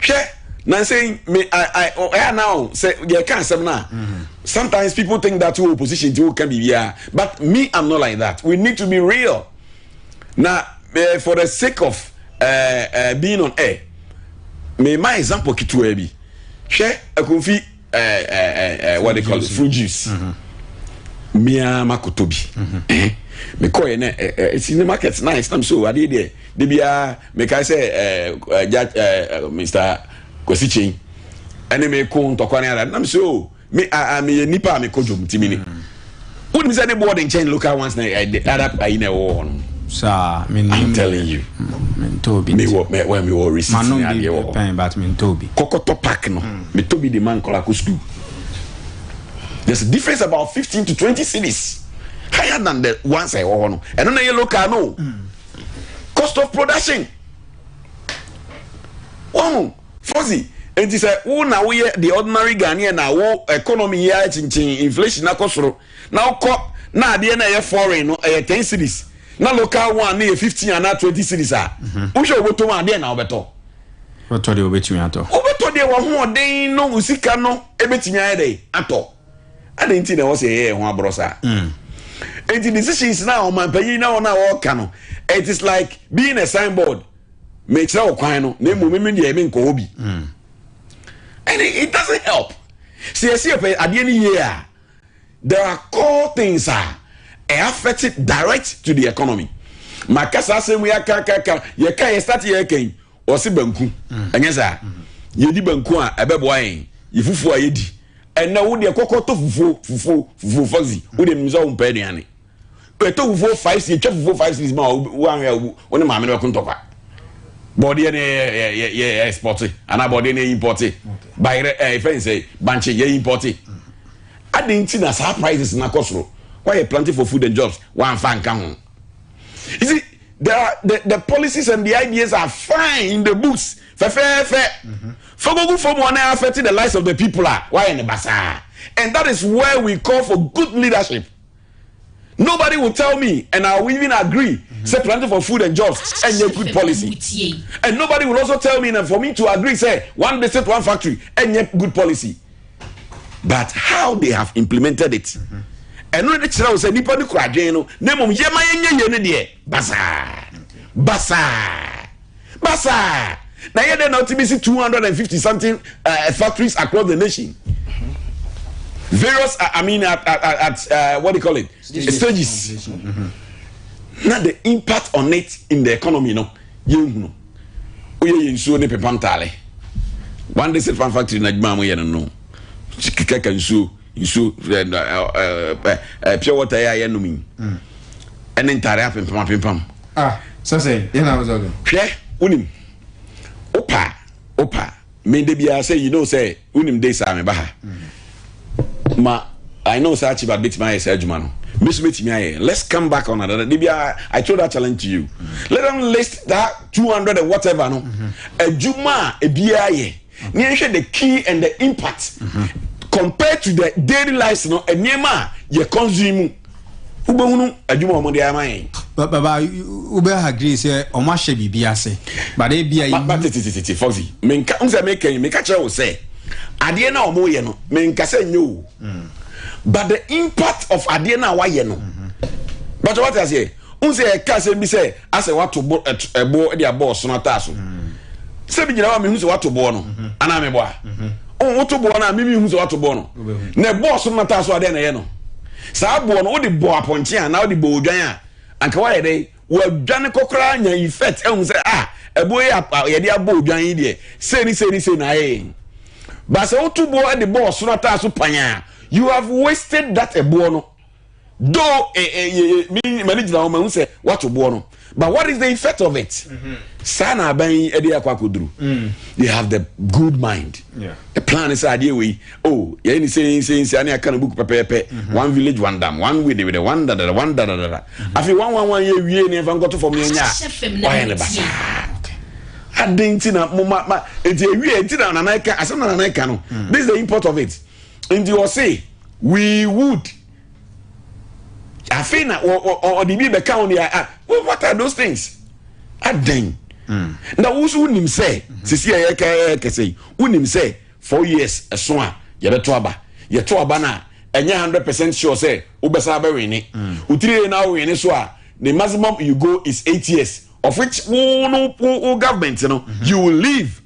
hwɛ nansei me i i ɛyɛ na o sɛ yɛka asɛm no a sometimes people think that wo opposition ti woka biribiara but me i'm not like that we need to be real na uh, for the sake of uh, uh, being on air mema example ketewa bi hwɛ akonfi ɛɛ what they call it fruit juice mmea makoto bi mekɔ yɛ na ɛɛ it's in the market nice na mi so adeɛ deɛ de bia meka sɛ ɛɛ ɛɛ ɛɛ mr kwasi chain ɛne mi ko ntɔkwa ne ara na mi so mi a mi yɛ nipa a mi kɔ dwom ti mi ni. wonim sɛ ne boɔ de nkyɛn local ones na ɛde eh, arab ayi na ɛwɔ hɔ nom saa menim i'm telling you mm, mentɔ bi mewɔ mewɔ mewɔ receipt ne adeɛ wɔ hɔ but mentɔ bi kɔkɔtɔ park no mm. metɔ bi de ma nkɔla kɔ school there's a difference about fifteen to twenty cities higher than the ones ɛwɔ hɔ no ɛno na yɛ local no mm. cost of production wɔn. Fozi, Enti sɛ wo na woyɛ the ordinary Ghanaian na wo economy yi ayɛ kyenkyen, inflation akɔ soro, na wokɔ na adeɛ no a ɛyɛ foreign no ɛyɛ ten cedis na local one no yɛ fifteen anaa twenty cedis a, mhm. wohwɛ wobɛtɔ mu a, adeɛ na wobɛtɔ? Wobɛtɔ deɛ wobɛtumi atɔ. Wobɛtɔ deɛ w'ahoɔden no wo sika no ɛbɛtumi ayɛ dɛ atɔ. Adɛn nti na ɛwɔ sɛ yɛyɛ yɛn ho aborɔ saa? Mm. Enti decisions na ɔmanpanyin na wɔn a wɔka no, it is like being a signboard. Mekyerɛ wo kwan no, na mmom me deɛ menkɔ hɔ bi. Mm. And it, it doesn't help. Sɛ yɛsi yɛpɛ adeɛ no yie a, there are core things a ɛyɛ affect direct to the economy. Maka saa asɛm yi aka aka aka yɛka yɛ start yɛ kan ɔse banku. Mm. Ɛnyɛ saa. Mm-hmm. Yɛdi banku a ɛbɛboa yɛn. Yɛ fufuo a yɛdi. Ɛnna wo deɛ kɔkɔ tɔ fufuo fufuo fufuo fɔzi. Wo deɛ mimisa wo mpɛ aduane. Ɛtɔ fufuo five cedis ɛtwa fufuo five cedis ma woanhwɛ a wo ne maame no bɛko ntɔkwa bɔɔdeɛ no yɛ yɛ ɛspɔte anaa bɔɔdeɛ no yɛ impɔte bayerɛ ɛɛ fɛn sɛ bankye yɛ impɔte adi nti na saa prices na kɔ soro wayɛ planting for food and jobs wanfa nka ho you see the the the policies and the ideas are fine in the books fɛfɛɛfɛ mm-hmm. fagogu fam wɔn na affect the lives of the people a wayɛ ne basaa and that is where we call for good leadership. Nobody will tell me and I will even agree say planting for food and jobs and a good policy. And nobody will also tell me and for me to agree say one district, one factory and a good policy. But how they have implemented it. ɛno ne kyerɛ wo sɛ nipa no kura adwene no na mmom yɛma yɛnyɛ yie no deɛ basaa basaa basaa na yɛ dɛ na ɔtumi si two hundred and fifty something uh, uh, factories across the nation various uh, i mean at, at, at uh, what do you call it stages, stages. Mm-hmm. na the impact on it in the economy no yɛn hunu oyɛ yɛn nsuo ne pepa ntaale one day sit farm factory na adwuma a mo yɛ no no kɛkɛ nsuo nsuo pure water yi a yɛnom yi ɛne ntaare apempam apempam ah, hwɛ wonim wopa wopa mede biara sɛ you know sɛ wonim de saa meba ha mm. ma I know sɛ achieve adbɛtumi ayɛ saa adwuma no me so mɛtumi ayɛ let's come back on another de biara I throw that challenge to you mm. let them list that 200 and whatever no mm-hmm. adwuma a ebiara yɛ ne yɛnhwɛ the key and the impact compared to the daily lives no nneɛma a yɛ consume mu wobɛhunu adwuma a wɔde ama yɛn. baba wobɛ agree sɛ wɔn ahyɛ biribi ase bade bi a. baba tetetete fɔfi menka n sɛ meka yi meka kyerɛ wo sɛ adeɛ no a wɔyɛ no menka sɛ nyɛ o mm. but the impact of adeɛ no a wɔayɛ no mm-hmm. bàtà wàtà aseɛ. Wohu sɛ yɛka asɛm bi sɛ asɛ woato bo ɛbo de abɔ ɔsono ataa so. Sɛ megyina hɔ a mehu sɛ woato boɔ no anaa mebɔ a. Wohu woto boɔ no a mimi hu sɛ woato boɔ no. Na ɛbɔ ɔsono no ataa so a dɛn na ɛyɛ no? Saa boɔ no wode bɔ apɔnkye a anaa wode bɔ odwan a anka woayɛ dɛn? Woadwane kɔ koraa nya effect ahu sɛ ah ɛboɔ yi a yɛde abɔ odwan yi deɛ sei ne sei ne sei na ayɛ yɛn. Ba sɛ woto boɔ de bɔ ɔsono ataa so pan a you have wasted that ɛboɔ no. though eh, eh, eh, eh, mani gyina hɔ mahu sɛ wato boɔ no but what is the effect of it mm-hmm. saa na aban yi de akɔ akɔduru mm. they have the good mind yeah. the plan is adeɛ wei oh yɛyɛ ne sɛnsɛnsi ane aka no book pɛpɛɛpɛ mm-hmm. one village one dam one wede wede one dadada one dadadada mm-hmm. afei one one one yɛ wie ne ɛfa nkɔto fam ne ɛnyɛ a wayɛ ne basa aden ti na mo ma ma eti ewie ti na nana ɛka asɛm na nana ɛka no mm. this is the import of it. nti ɔse we would afei na ɔde bi bɛka ho deɛ ah what are those things adɛn hmm. na woso wonim sɛ hmm. sisi a yɛka yɛ kɛsɛ yi wonim sɛ four years ɛso a yɛbɛto aba yɛto aba no a ɛnyɛ hundred percent sure sɛ wobɛsa bɛwene hmm. wotiri yɛ na wowene so a the maximum you go is eight years of which wo no wo government no you will leave.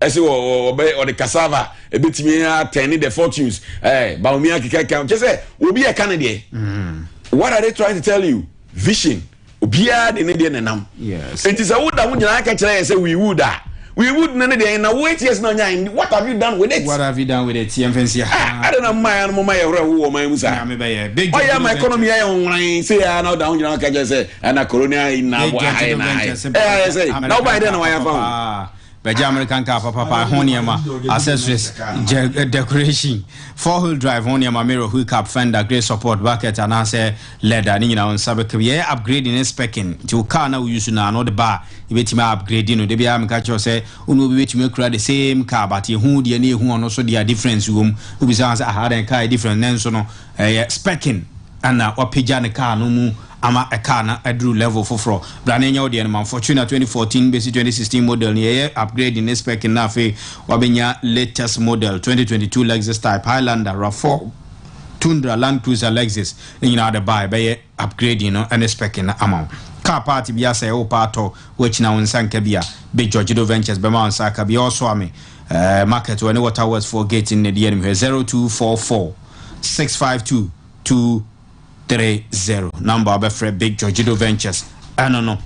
Ɛsɛ wɔ wɔ wɔbɛ wɔde cassava ebetumi atɛn the fortunes ɛɛ eh, baomia keka kan kyɛ sɛ obi ɛka ne deɛ. Mm. What are they trying to tell you? Vision obiara de ne deɛ nenam. Yes. Nti sɛ woda ho nyinaa ka kyerɛ yɛ sɛ we would a. We would ne ne deɛ na wo eight years na ɔnya what have you done with it? What have you done with it? Yɛn fɛn si ha. Ah, Ada na mmaa yɛn no mo ma yɛ horo ɛho wɔ ɔman mu saa. Nyame bɛyɛ big. Ɔyɛ ama economy yɛ wɔn wɔn sɛ yɛ ana ɔda ho nyinaa ka kyerɛ sɛ ɛna corona yi na abɔ aha yɛ na ayɛ. Ɛyɛ sɛ na ɔba yɛ dɛ na wɔayɛ fa ho. Bɛgye American car papapa ho nneɛma, accessories, gyɛ, decoration, four wheel drive ho nneɛma, mirror, hook up, fender, grey support, bucket anaasɛ leather ne nyinaa wo nsa bɛka bi. Yɛyɛ upgrading ne specking nti wo car na wo use na ano de ba a yɛbɛtumi a upgrade no. Da biara meka kyerɛ sɛ wo ne obi bɛtumi akura the same car but yɛhu deɛ ne yɛhu ɔno so deɛ a difference wɔ mu. Wobisa sɛ aha dɛn car yɛ difference nanso no ɛyɛ specking ɛna wapagya ne car no mu ama ɛkaa na aduru level foforɔ. Bra na yɛnyɛ wo deɛ no ma Fortuner 2014 bɛsi 2016 model no yɛyɛ upgrading ne specking na afei wabɛnya latest model 2022 Lexus Type, Highlander, Rav4, Tundra, Land Cruiser, Lexus ne nyinaa de baa yɛbɛyɛ upgrading no ne specking no ama wo. Car part bi asɛe wo paa tɔ wo akyina wo nsa nka bi a, Big Georgedo Ventures bɛma wo nsa aka bi Ɔɔso Ame eh, Market wɔ ne Waterworks foɔ gate no na ɛdi anim hwɛ 0244 652 2 Three zero number a wɔbɛfrɛ Big Georgido Ventures ɛno no.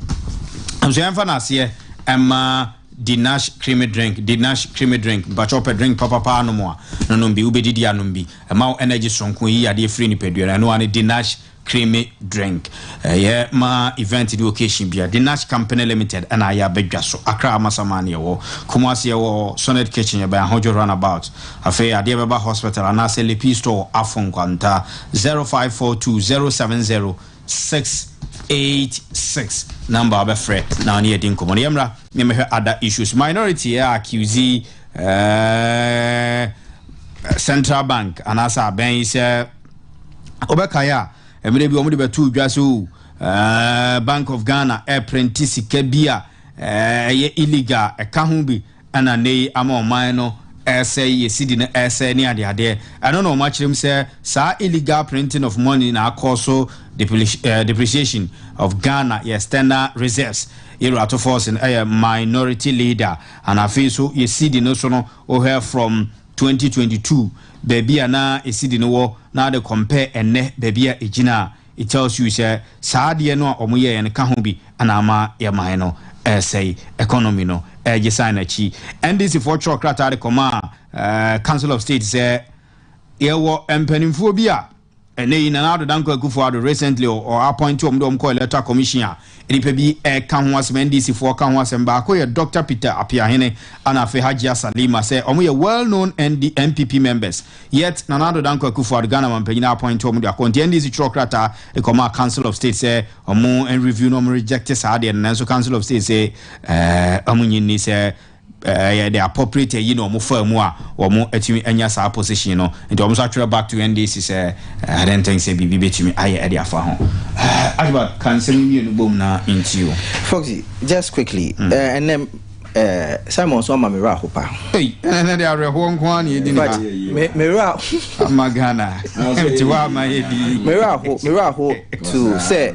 Nso yɛmfa no aseɛ ɛma Dinash Creamy Drink, Dinash Creamy Drink, mpakyɛ ɔpɛ drink papapaa nom a, nonom bi, wobɛdidi anom bi, ɛma wo energy soronko, yi yadeɛ firi nipadua no, ɛno ane Dinash Creamy Drink. Ɛyɛ ma event ne occasion bia, Dinash Company Limited ɛna ayɛ abɛdwa so, Accra Amasaman ne ɛwɔ, Kumasi ɛwɔ Sonnet Kitchen, yɛbɛn Ahodwo Runabout, afei adeɛ bɛba hospital anaasɛ Lepi Store wɔ Afo Nkwanta, Zero five four two zero seven zero six eight six number a wobɛfrɛ na ɔne yɛdi nkɔmmɔ no yɛmmra ne mehwɛ ada issues minority ɛ accuse ɛɛ central bank anaasɛ abɛn yi sɛ wobɛkae a mmerɛ bi wɔde bɛtoo dwa sɛ o bank of ghana ɛprɛnti sika bi a ɛyɛ illegal ɛka ho bi Ɛna nnɛ yi ama ɔman no ɛresɛe, yɛ cedi no ɛresɛe ne adeadeɛ. Ɛno na wɔakyerɛ mu sɛ saa illegal printing of money na akɔ so depreci depreciation of Ghana, yɛ external reserves. Yɛwura Tufose no ɛyɛ minority leader and afei nso yɛ cedi no so no wohwɛ from twenty twenty two baabi a na cedi no wɔ na wode compare ɛnnɛ baabi a ɛgyina a, It tells you sɛ saa adeɛ no a ɔmo yɛɛ no ka ho bi anaa ama yɛ man no ɛɛsɛe, economy no ɛɛgye san n'akyi. NDC foɔ twerɛ krataa de kɔmaa Council of State sɛ yɛwɔ mpaninfoɔ bi a ɛnɛ yi Nana Addo Dankwa Akufo Addo recently ɔ appoint wɔn de wɔn kɔ electoral commission a Nnipa bi reka ho asɛm, NDC foɔ ka ho asɛm, baako yɛ Doctor Peter Apeahene ana afei Hajia Salima sɛ wɔn yɛ well known ND, NPP members yet Nana Addo Dankwa Akufo-Addo Ghana mampanyin appoint wɔn de akɔ nti NDC twerɛ krataa de kɔmaa Council of State sɛ wɔn review na wɔn reject saa adeɛ no nanso Council of State se eh, wɔn nyi nni sɛ Ɛyɛ the appropriate ayi na wɔn faa mu a wɔn atumi anya saa position no. Nti wɔn nso atwerɛ back to NDC sɛ I don't think sɛ biribi bɛtumi ayɛ ɛde afa ho. Archibald, ka nsɛm yi mmienu bom na nti o. Foxy, just quickly, ɛnɛ Simon nso ama me werɛ aho paa. Ei, ɛnɛ de awerɛhoɔ nko ara na ɛdi ne ha. But me werɛ aho. Ama Ghana, nti hɔ ama yɛ di. Me werɛ aho, me werɛ aho to sɛ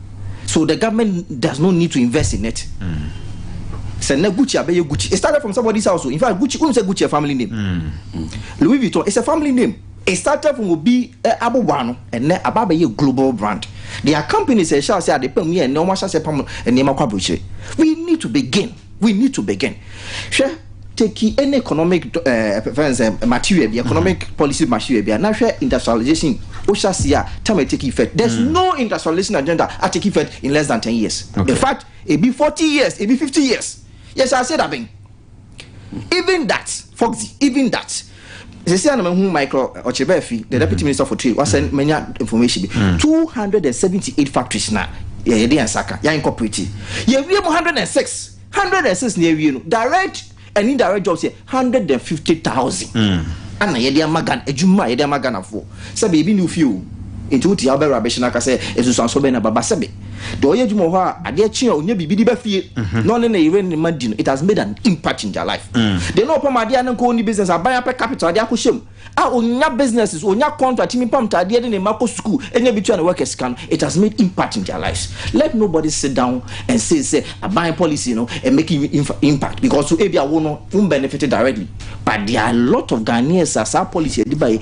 so the government does not need to invest in it mm. sɛ na gucci abɛyɛ gucci it started from somebody's house in fact gucci wonu sɛ gucci a family name mm. louis vuitton is a family name it started from obi eh, abobo ano ɛnɛ aba abɛyɛ global brand there are companies ɛhyɛ ase a de pam yɛ ɛnɛ wɔn ahyɛ ase pam nneɛma kɔ aburokyire we need to begin. We need to begin. Hwɛ teki any economic fɛn sɛ material bi economic mm-hmm. policy material bi a na hwɛ industrialization o hyɛ ase a time a take effect there is mm. no industrialization agenda a take effect in less than ten years okay. in fact ebi forty years ebi fifty years yɛ hyɛ ase da bɛn even that foxy even that. Sisi a na mahu Michael Ɔkyereba fi the deputy minister for trade wasɛ manya information bi hmm. two hundred and seventy eight factories na yɛde yɛn nsa ka yɛn incorporate yɛwie mu hundred and six hundred and six na yɛwie no direct and indirect jobs yɛ hundred and fifty thousand ana hmm. yɛde ama Ghana adwuma a yɛde ama Ghanafoɔ. sɛ biribi nni wo fie o, enti wote a wobɛwura bɛhyɛ no aka sɛ, Nsunsuansoɔ bɛn na ɛba? Basɛbe deɛ ɔyɛ adwuma wɔ hɔ a, adeɛ kye a ɔnya biribi de ba fie na ɔne ne yere ne ne mma di no, it has made an impact in their life. Deɛ na ɔpam adeɛ a na nka ɔnni business, aban apɛ capital a ɔde akɔhyɛ mu a ɔnya businesses, ɔnya contract tumi pam ntaadeɛ de ne mma kɔ sukuu nya bi tua ne workers sika no, it has made impact in their lives. Let nobody sit down and say sɛ aban policy no ɛ make impact because ebia wo no wo mbenefit directly but there are a lot of Ghanaians a saa policy a yɛde baeɛ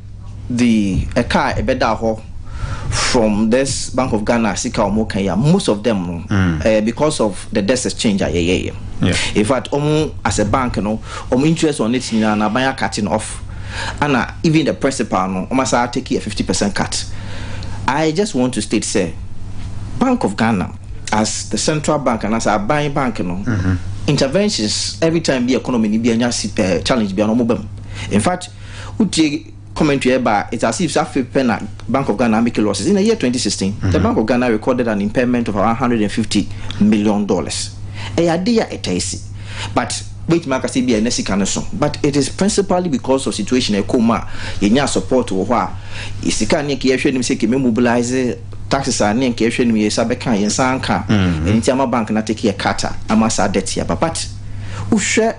the ɛka a ɛbɛda hɔ from this bank of ghana sika wɔn kan ya most of them no ɛyɛ because of the desk exchange a yɛyɛyɛ in fact wɔn as a bank no wɔn interest on it nyinaa na aban akate no off ana even the principal no wɔn asa take a fifty percent cut i just want to state sɛ bank of ghana as the central bank and as a bank bank no mm-hmm. interventions every time bi economy ni bi anya eh, challenge bi ano wɔn ba mu in fact. Wotie commentary a ɛba a, it's as if sɛ afei pɛ na Bank of Ghana amake losses. In the year 2016, the Bank of Ghana recorded an impairment of around 150 million dollars. Ɛyɛ adeɛ a ɛtaa si. But wobɛtumi aka sɛ ebia ɛnɛ sika no so. But it is principally because of situation a ɛkɔɔ mu a yɛnyaa support wɔ hɔ a yɛ sika a ne anka yɛhwɛ anim sɛ kɛmɛ mobilise taxes a ne anka yɛhwɛ anim yɛsa bɛka a yɛnsa anka a ɛno nti ama bank no atake yɛ cut a ama saa debt yi aba. But wohwɛ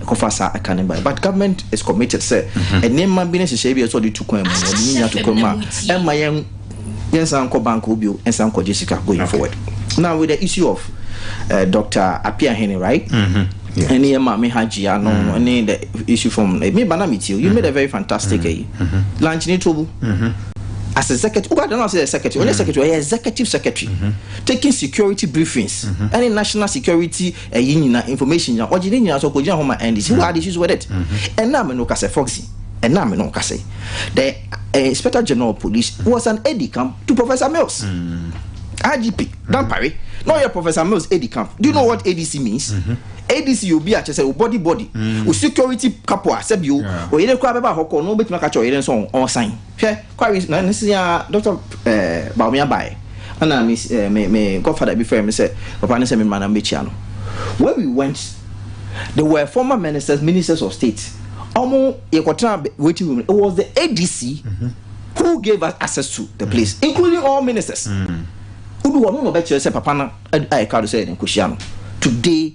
ɛkɔfa saa ɛka no baeɛ but government is committed sɛ nneɛma bi ne nhyehyɛe bi a ɛsɛ ɔde tu kwan mu no ɔde ne nya to kwan mu a ɛmma yɛn yɛnsan nkɔ bank hɔ bio nsan nkɔgye sika going forward now with the issue of uh, dr apiahene right ɛne yɛ maame ha gyia no ɛne the issue from eh, me ba na metie you made a very fantastic ɛyi lunch ne tobu as executive who don't say executive only secretary or executive secretary taking security briefings any national security ɛyi nyina information nyina ɔgye ne nyina so ɔkɔgyina hɔ ma ndc who had issues with it ɛna me no kasɛ foxy ɛna me no kasɛ the uh, inspector general of police was an aide camp to professor mills IGP Dampare na ɔyɛ Professor Mills AD camp do you know what ADC means mm-hmm. ADC yɛ obi a kyɛ sɛ o body body mm. o security kapo a sɛbi o oyere koraa bɛba hɔ kɔ na obetumi aka kyɛ ɔyere nso ɔsan Hwɛ, kɔawi na ne se aa Doctor eh, Bawumia bae, ɛna me eh, me, me godfather bi frɛɛ me sɛ, papa ne sɛ me mmra na mɛkyia no. When we went, there were former ministers, ministers of state, ɔmo, yɛkɔtenaa bɛ, waiting room, it was the ADC who gave us access to the place, including all ministers. Wodu hɔ, ɔno na ɔbɛkyerɛ sɛ papa no a yɛkaa do sɛ yɛde nkɔhyia no, today,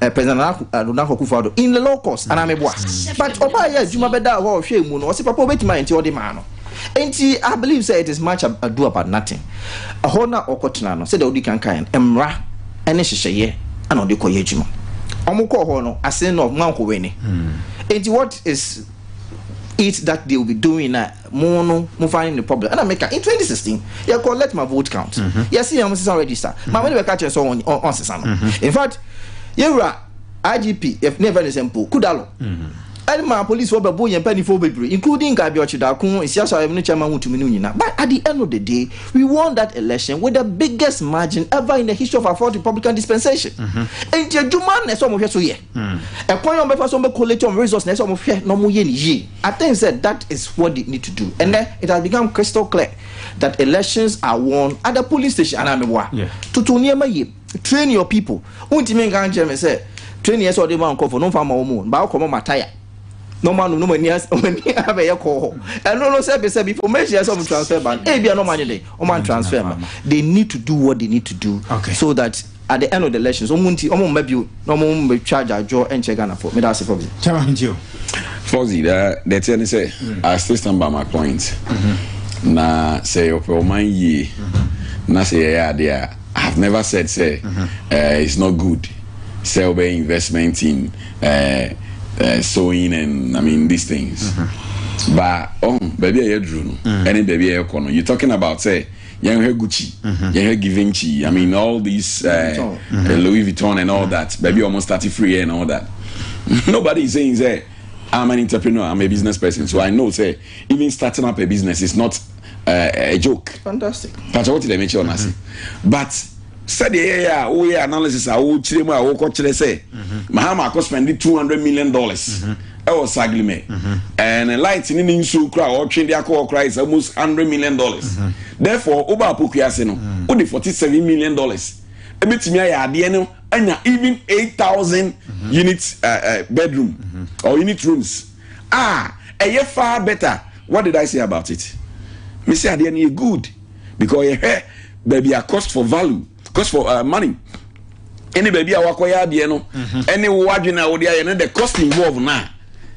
eh, President Nana Akufo eh, Addo in the low cost anaa meboa but ɔbaa yɛ adwuma bɛdaa hɔ a ɔhwɛɛ mu no ɔse papa wobɛtumi ayɛ nti ɔde maa no nti I believe sɛ it is much ado about nothing ɛhɔ no a ɔkɔtena no sɛdeɛ wodi kan kaeɛ no mmara ne hyehyɛeɛ ana ɔde kɔyɛ adwuma ɔmo kɔɔ hɔ no ase no ɔmo ankɔwɛ ni nti what is it that they will be doing na Mo no mo fa ne ne problem ɛna me ka in twenty sixteen yɛ kɔ let my vote count yɛ si yɛn mo sisa register maame no bɛ ka kyerɛ sɛ ɔn ɔn ɔn sisa no in fact yɛ wura IGP yɛ ne yɛ fɛ ne sɛ mpo kudalo ɛde ma police wɔ bɛ bo yɛn panyinfoɔ bebree including nka abiɔkye dako nsiasa ayɛ no chairman wotumi no nyina but at the end of the day we won that election with the biggest margin ever in the history of our fourth republican dispensation nti adwuma na ɛsɛ ɔmo hwɛ so yɛ. Ɛkwan a wɔn bɛfa so wɔn bɛ collate wɔn resource na ɛsɛ wɔn hwɛ na wɔn yɛ no yie. I think sɛ that is what they need to do. Ɛnɛ it has become crystal clear that elections are won at the polling station anaa mi boa. Toto nneɛma yie, train your people. Wɔn ntumi nka nkyɛn mi sɛ training ɛsɛ ɔde ma nkorɔfo no nfa ma wɔn o, ba ɔkɔ mɔ ma taya na wɔn anum na wɔn ani as wɔn ani abɛyɛ kɔɔ hɔ. Ɛno no sɛbi sɛbi information ɛsɛ wɔn transfer ba no, ebi a na wɔn anyɛ dɛ wɔn an transfer ma. They need to do what they need to do so that. at the end of the elections ɔmo nti ɔmo mma bio na ɔmo mmetwa adwadwoɔ nkyɛ ghanafoɔ meda ase fɔ bi. kyɛn ɔmo nti o. fɔzi da deɛ teɛ ne sɛ i still stand by my point mm-hmm. na sɛ ɔpɛ ɔman yie mm-hmm. na sɛ yɛyɛ adeɛ a i have never said sɛ mm-hmm. uh, it's not good sɛ ɔbɛ investment in uh, uh, sewing and i mean these things mm-hmm. but ɔn oh, baabi a yɛduru no ɛne baabi a yɛkɔ no you talking about sɛ. Uh, yɛn hwɛ gucci mm-hmm. yɛn hwɛ givenchy i mean all these uh, eh, mm-hmm. Eh, louis vuitton and all mm-hmm. that baabi ɔmo start free and all that nobody is saying say i'm an entrepreneur i'm a business person so i know say even starting up a business is not uh, a joke fantastic pàtàkì wọ́n ti dẹ̀ mi kí ọ náà sí but. sɛdeɛ ɛyɛyɛ a woyɛ analysis a wokyerɛ mu a wokɔkyerɛ sɛ mahama akɔ spɛnde 200 million dollars ɛwɔ saglimɛ ɛne light ne ne nsuo kora a ɔtwe de akɔ hɔ kora is almost 100 million dollars therefore woba apokua ase no wode 47 million dollars ɛbɛtumi ayɛ adeɛ no anya even 8000 unit uh, uh, bedroom or unit rooms a ɛyɛ far better what did i say about it mesi adeɛ no yɛ good because ɔyɛ hwɛ baabi a cost for value cost for uh, money ɛne baabi a wakɔyɛ adeɛ no mhm. ɛne wo adwene a wode ayɛ no the cost involved na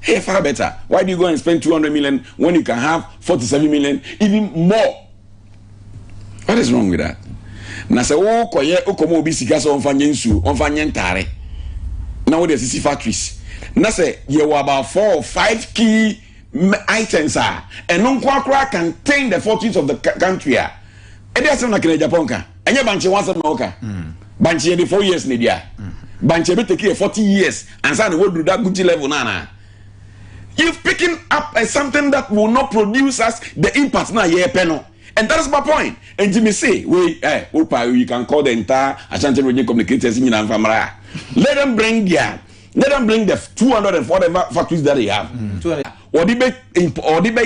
hey far better why do you go and spend two hundred million when you can have forty seven million even more what is wrong with that na sɛ wokɔyɛ wokɔma obi sika sɛ ɔmfa nyɛ nsuo ɔmfa nyɛ ntaare na wode asisi factories na sɛ yɛwɔ about four or five key items a ɛno nko ara koraa contain the fortunes of the country a ɛde asɛm na kena japan ka ɛnyɛ bankye ho asɛm na ɔka mm. bankye yɛde four years na ɛdi a mm. bankye ɛbɛtɛki yɛ forty years ansa na wɔduru da gucci level no anaa you've picking up uh, something that will not produce us the impact na yɛpɛ no and that is my point and jimmy say wait eh opa you can call the entire ashanti region communicators nyinaa nfa mara let them bring their Let them bring the two hundred and whatever factories that they have. Wɔde bɛ wɔde bɛ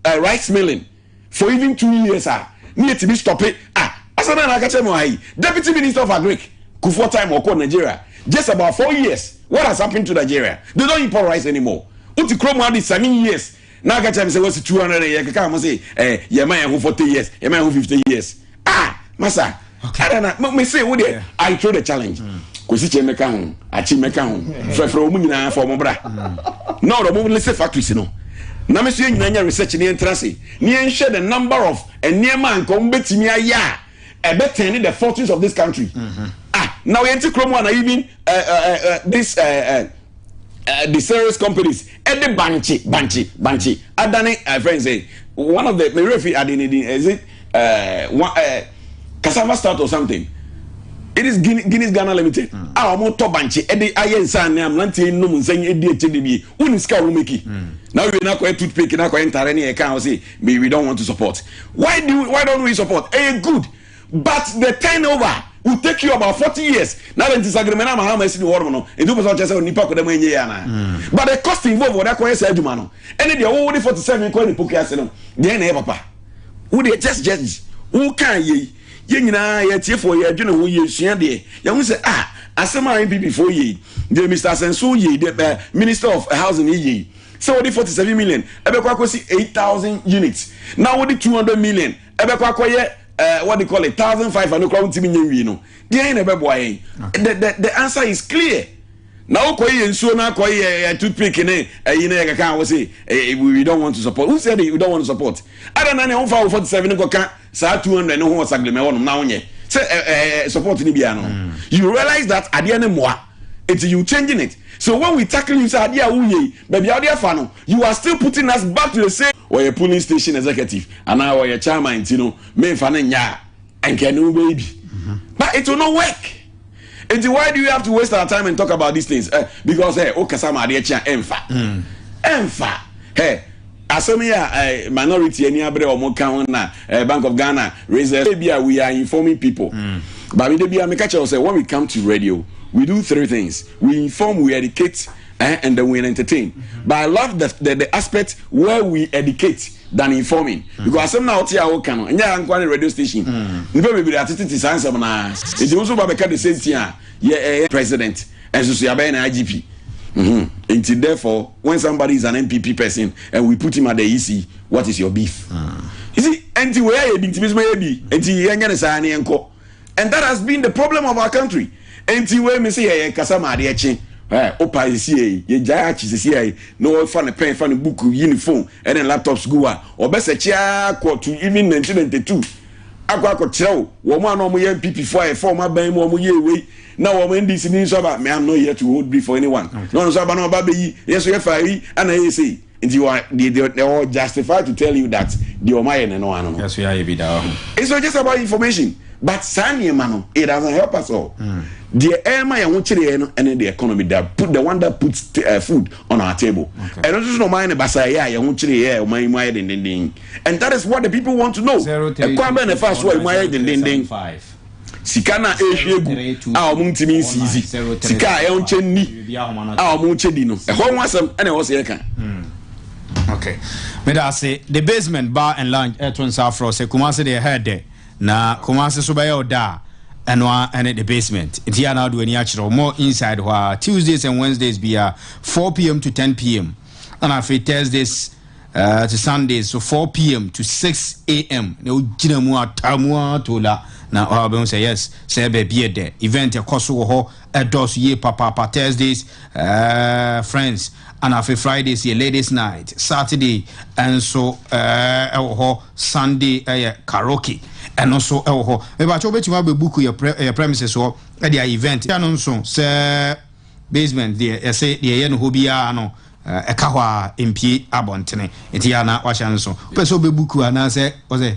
yɛ rice milling for even two years ah. ne yɛ ti bi stop it ah asana na akakyɛ mu ayi deputy minister of agric kufuor time ɔkɔ Nigeria just about four years what has happened to Nigeria they don't import rice anymore o ti kurom adi seven years. na ɔka kyerɛ me sɛ wasi 200 yɛ keka mo se eh, yɛma yɛn ho 40 years yɛma yɛn ho 50 years ah masa okay. ɛna na me se wo deɛ yeah. I throw the challenge mm. kwasi kyɛ mɛka ho akyi mɛka ho mm. frɛfrɛ wɔn nyinaa fɔ wɔn bra mm. na ɔdɔ mo lese factories no na me so yɛ nyinaa nyɛ research ne yɛn tra se ne yɛn hwɛ the number of nneɛma a nka wɔn bɛtumi ayɛ a ɛbɛtɛn ne the fortunes of this country mm-hmm. ah na ɔyɛ nti kurom a na even uh, uh, uh, this uh, uh, uh, the serious companies ɛde bankye bankye bankye adane uh, friends say one of the merefi adenedin is it uh, one, uh, cassava stout or something it is guinness, guinness ghana limited hmm. a ah, wɔn tɔ bankye ɛde ayɛ nsa ne ameranteɛ nnum nsɛn ɛdi akyɛ de bi wɔn sika wɔn meki hmm. na wɔn yɛ n'akɔyɛ toothpick n'akɔyɛ ntaare ne yɛ kan ɔsi me we don't want to support why do we, why don't we support ɛyɛ eh, good but the turnover will take you about forty years na de nti sagirima na mahama esi ni wɔn mu no edu pɛsɛ ɔkyɛ sɛ nipa kɔdɛm enye ya na hmm. but the cost involved wɔde akɔyɛ sɛ adwuma no ɛne deɛ wɔwɔ de forty seven kɔ ne poki ase no deɛ na ɛyɛ papa wo deɛ just just wo kan yie yɛ nyinaa yɛ tiefo yɛ adwene ho yɛ sua deɛ yɛn ho sɛ ah asɛm a npp fo yie deɛ mr asenso yie deɛ eh, minister of housing yie. sɛ wode forty seven million ɛbɛkɔ akɔsi eight thousand units na wode two hundred million ɛbɛkɔ akɔyɛ ɛɛ eh, what they call it thousand five hundred kora wontumi nyɛ nwie no deɛn na ɛbɛboa yɛn the the the answer is clear na wokɔ yɛ nsuo na akɔ yɛ eh, toothpick ne ɛyi eh, na yɛ kaka wɔ se eh, we don't want to support who said we don't want to support ada na ne wofa wo forty seven ne kɔka saa two hundred ne ho wɔ saglemɛ hɔnom na wonyɛ sɛ ɛɛ support ne bia no hmm. you realize that adeɛ ne mmoa Enti you changing it so when we tackle you sɛ adeɛ a wo yɛ yi baabi a wode afa no you are still putting us back to the same. Ɔyɛ polling station executive anaa ɔyɛ chairman nti no menfa no nyɛ a anka ɛne wo bɛyɛ bi but it will not work nti why do we have to waste our time and talk about these things eh because eh wokasa ma adeɛ kye a ɛnfa ɛnfa eh Asɛm yi a minority ani abere a wɔka ho na Bank of Ghana research ebi a we are informing people. But me da bi a meka kyerɛ wo sɛ when we come to radio we do three things we inform we educate eh, and then we entertain. But I love the, the, the aspect where we educate than informing because asɛm na wote a woka no ɛnyɛ ankoa ne radio station nipa bebree atetete saa nsɛm naa nti wo nso ba bɛka the same thing a yɛ ɛyɛ president Ɛnso so yɛabɛyɛ no IGP nti therefore when somebody is an NPP person and we put him at the EC what is your beef? You see, nti wei ayɛ bi nti mesoma yɛ bi nti yɛnyɛ no saa ne yɛnkɔ and that has been the problem of our country nti wei me se yɛyɛ kasa ma adeɛ kye wopa sɛsiɛ yi yɛgyae akye sɛsiɛ yi na wɔfa ne pɛn fa ne book yi ne phone ɛne laptops gu a ɔbɛsɛkye ara kɔ to even 1992 akɔ akɔkyerɛw wɔn a na wɔyɛ NPP fo a ɛfa wɔn aban mu wɔn yɛ wei na wɔn NDC ni nso aba me am not here to hold brief for anyone na wɔn nso aba na wɔn aba bɛyi yɛn nso yɛfa yi ana yɛ sei nti wɔn deɛ deɛ deɛ wɔn justify to tell you that deɛ wɔn ayɛ ne no ano no yɛso yɛayɛ bi da wɔ ho it's not just about information but saa nneɛma no it doesn't help us all mm. deɛ ɛma yɛn ho kyerɛ yɛn no ɛne the economy that put the one that puts uh, food on our table ɛno nso so na ɔman ne basaayɛ a yɛn ho kyerɛ yɛ ɔman yi mu ayɛ dendenden And that is what the people want to know. Ɛkwan bɛn na ɛfaa so a emu ayɛ dendenden? Sika no a ɛrehwie agu a wɔn ntumi nsiisi, sika a ɛnkyɛ nni a wɔn nkyɛ di no, ɛhɔ ho asɛm ɛna ɛwɔ sɛ yɛka. Okay. Meda ase the basement bar and lounge ɛto nsa afrɔ sɛ Kumasi deɛ ɛhɛ dɛ na Kumasi so bɛyɛ ɔda a ɛno a ɛne the basement nti a na ɔde w'ani akyerɛ more inside hɔ a Tuesdays and Wednesdays bia 4 pm to 10 pm ɛna afei Thursdays Ɛɛ te Sundays so 4 pm to 6 am na wogyina mu ataa mu ara to la na wobɛhu sɛ yes sɛ baabi yɛ dɛ event ɛkɔ so wɔ hɔ ɛdɔɔso yie papaapa Thursdays ɛɛ friends ana afei Fridays yɛ ladies night Saturday nso ɛɛ ɛwɔ hɔ Sunday ɛyɛ karaoke ɛno nso ɛwɔ hɔ mebakyɛ wobɛtumi abɛbuku yɛ pre yɛ premises hɔ ɛde ayɛ event ɛno nso sɛ basement deɛ yɛsɛ deɛ yɛ no hɔ biara no Ɛka hɔ ara, empue abɔntene. Enti yɛ a na wahyɛ no nso. Wopɛ sɛ ɔbɛbu kuo anaasɛ ɔsɛ?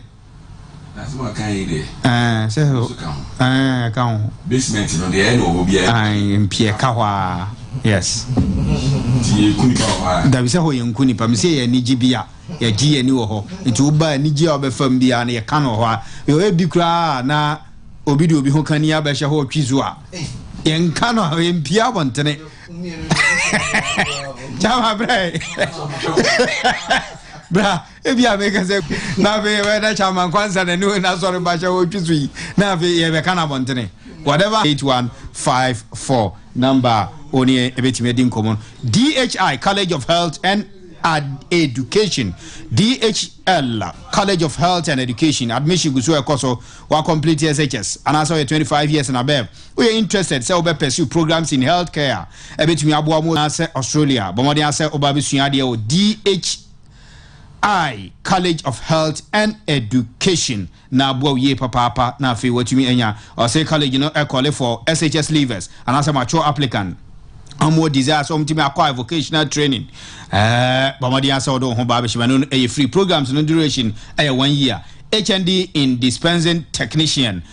N'asɛm a ɔkaeɛ yi deɛ. Ɛɛ, sɛ. Ɛno nso ka ho. Ɛɛ, ɛka ho. Basement no, deɛ ɛyɛ na ɔwɔ biara. Ae, empue, ɛka hɔ ara. Yes. Nti yɛku nipa wɔ hɔ ara? Dabi, sɛ hɔ yɛnku nipa. Mese yɛ anigye bi a, yɛgye yɛn ani wɔ hɔ. Nti woba anigye a wobɛfa mu biara no, yɛka no wɔ hɔ ara. Yɛ ebi koraa a na obi de obi ho kani abɛhyɛ hɔ ɔtwe zu a, yɛnka no, empue abɔntene. Chama, peraí. bra ebi a meka sɛ na afei yɛbɛda kyama nkwansa na ɛne na asɔre bahyɛ wɔtwi so yi na afei yɛbɛka no abɔntene whatever 8154 number ɔne ɛbɛtumi adi nkɔmmɔ dhi college of health and education dhl college of health and education admission gu so ɛkɔ so wa complete shs anaasɛ ɔyɛ 25 years and above Woyɛ interested sɛ wobɛ pursue programs in health care a ɛbɛtumi aboa mo anaasɛ Australia? Bɔ mmɔden ara sɛ woba bɛsua adeɛ wɔ DHI, College of Health and Education na aboa wo yie papaapa na afei woatumi anya ɔse college no ɛkɔle for SHS leavers anaasɛ mature applicant wɔn wɔ desire sɛ wɔtumi acquire vocational training ɛɛ bɔ mmɔden ara sɛ wode wo ho baa bɛhyɛ mu ɛno no ɛyɛ free programs no duration ɛyɛ one year HND in dispensing technician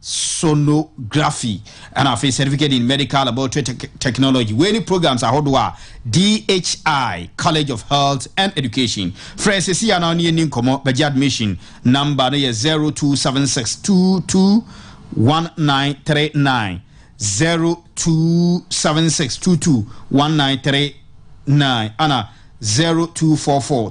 sonography, ɛna afei certificate in medical laboratory technology. Wei ne programs ahodoɔ a DHI College of Health and Education frɛ sisi ya na ɔne yɛn ni nkɔmɔ bɛgye admission number no yɛ 0276221939 0276221939 ɛna 0244